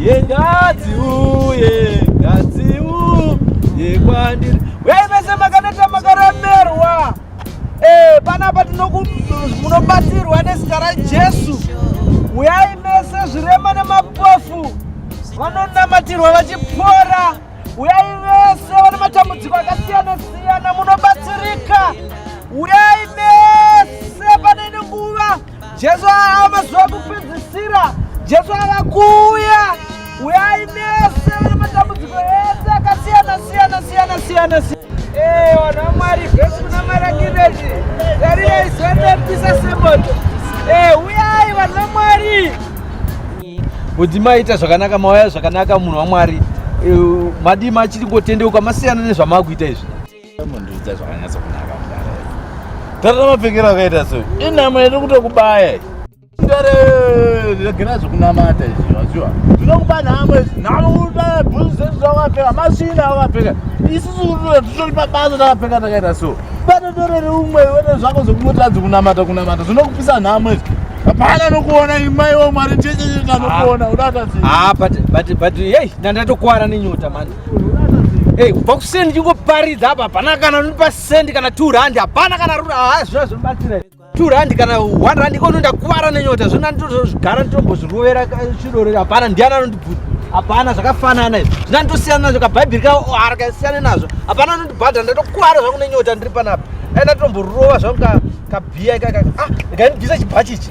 yengadzi uye ngadzi uye kwandiri wei vese makaneta makaremerwa eh, panapa tinomunobatsirwa nezita rajesu uyai mese zvirema nemapofu vanonamatirwa vachipora uyai vese vane matambudziko akasiyana siyana munobatsirika uyai mese pane ine nguva Jesu ava mazuva kupedzisira. Jesu ava kuuya. Uyai mese vane matambudziko ese akasiyana siyana siyana siyana siyana. Eh, vanhu vaMwari vese kuna marangireji. Tarirai zuva rinopisa semoto. Eh, uyai vanhu vaMwari. Kuti maita zvakanaka mauya zvakanaka munhu waMwari. Eh, madii machiri ngotendeuka masiyana nezvamakuita izvi. Mundiudza zvakanyatsa kunaka mudare. Tata mapfekero akaita so. Inhamo yedu kutokubaya. Mudare regera zvekunamata izvi waziwa. Zvinokupa nhamo izvi. Nhamo kuda bhuzu zvedu zvawapfeka. Masvina awapfeka. Isusu kutoda titori pabasa takapfeka takaita so. Bata doro reumwe wena zvako zvekunotadza kunamata kunamata. Zvinokupisa nhamo izvi. Hapana nokuona imai womwari checheche tanokuona ah. udatasi. Ah but but but hey nandatokuwara nenyota manje. Hey, kubva kuseni ndichingoparidza apa hapana kana nonipa sendi kana two rand hapana kana rura haa zvona zvinobatsira two rand kana one rand ikono ndakuvara nenyota zvona nditozogara nditombozvirovera chirore hapana ndiani anondibvudza hapana zvakafanana izvi zvina nditosiyana nazvo kabhaibheri ka harakasiyane nazvo hapana anondibhadha ndatokuvara zvangu nenyota ndiri panapa ai ndatomborova zvangu kabhiya ikakaka ah ndikainibvisa chibhachi ichi